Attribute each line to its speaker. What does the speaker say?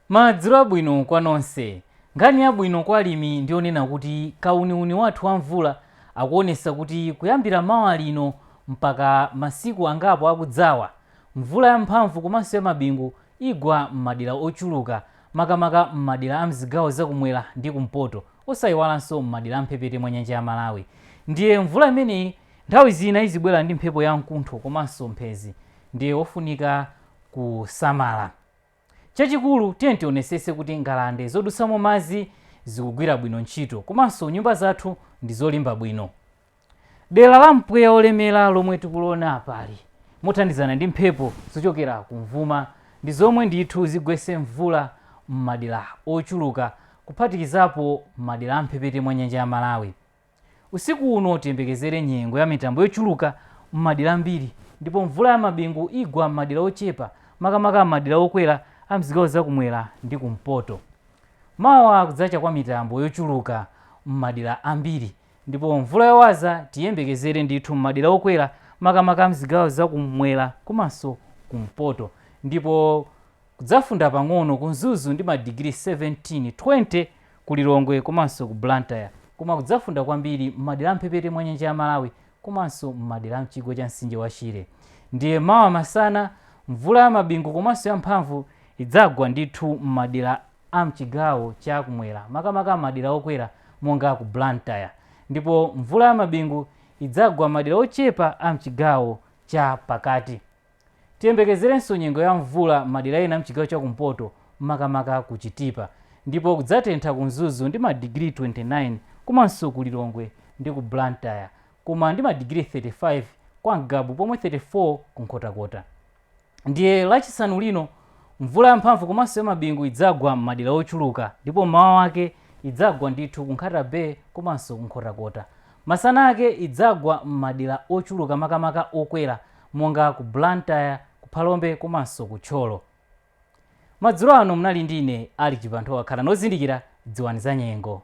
Speaker 1: Madzulo abwino kwa nonse. Nkhani yabwino kwa alimi ndiyonena kuti kauniuni wathu wa mvula akuonesa kuti kuyambira mawa lino mpaka masiku angapo akudzawa, mvula ya mphamvu komanso ya mabingu igwa m'madera ochuluka makamaka m'madera a mzigawo za kumwera ndi kumpoto osaiwalanso m'madera a mphepete mwa nyanja ya Malawi. Ndiye mvula imeneyi nthawi zina izibwera ndi mphepo ya mkuntho komanso mphezi ndiye ofunika kusamala. Chachikulu, tiyeni tionesese kuti ngalande zodutsamo madzi zikugwira bwino ntchito komanso nyumba zathu ndi zolimba bwino. Dera la mpweya wolemera lomwe tikuliona apali, mothandizana ndi mphepo zochokera kumvuma, ndi zomwe ndithu zigwetse mvula m'madera ochuluka kuphatikizapo madera a m'mphepete mwa nyanja ya Malawi. Usiku uno tiyembekezere nyengo ya mitambo yochuluka m'madera ambiri ndipo mvula ya mabingu igwa m'madera ochepa makamaka m'madera okwera a m'zigawo za kumwera ndi kumpoto. Mawa kudzacha kwa mitambo yochuluka m'madera ambiri ndipo mvula yowaza tiyiyembekezere ndithu m'madera okwera makamaka a m'zigawo za kumwera komanso kumpoto ndipo Kudzafunda pang'ono ku Mzuzu ndi madigiri 17, 20 ku Lilongwe komanso ku Blantyre koma kudzafunda kwambiri m'madera a m'mphepete mwa nyanja ya Malawi komanso m'madera a m'chigwa cha mtsinje wa Shire. Ndiye mawa masana, mvula ya mabingu komanso yamphamvu idzagwa ndithu m'madera a m'chigawo cha kumwera makamaka m'madera okwera monga ku Blantyre ndipo mvula ya mabingu idzagwa m'madera ochepa a m'chigawo cha pakati. Tiyembekezerenso nyengo ya mvula m'madera ena m'chigawo cha kumpoto makamaka ku Chitipa ndipo kudzatentha ku Mzuzu ndi madigiri 29 komanso ku Lilongwe ndi ku Blantyre koma ndi madigiri 35 kwa Ngabu pomwe 34 ku Nkhotakota ndiye Lachisanu lino mvula yamphamvu komanso yamabingu idzagwa m'madera ochuluka ndipo m'mawa wake idzagwa ndithu ku Nkhata Bay komanso ku Nkhotakota. Masana ake idzagwa m'madera ochuluka makamaka okwera monga ku Blantyre, ku Phalombe komanso ku Thyolo. Madzulo ano munali ndi ine Alick Chibanthowa. Khalani ozindikira, dziwani zanyengo.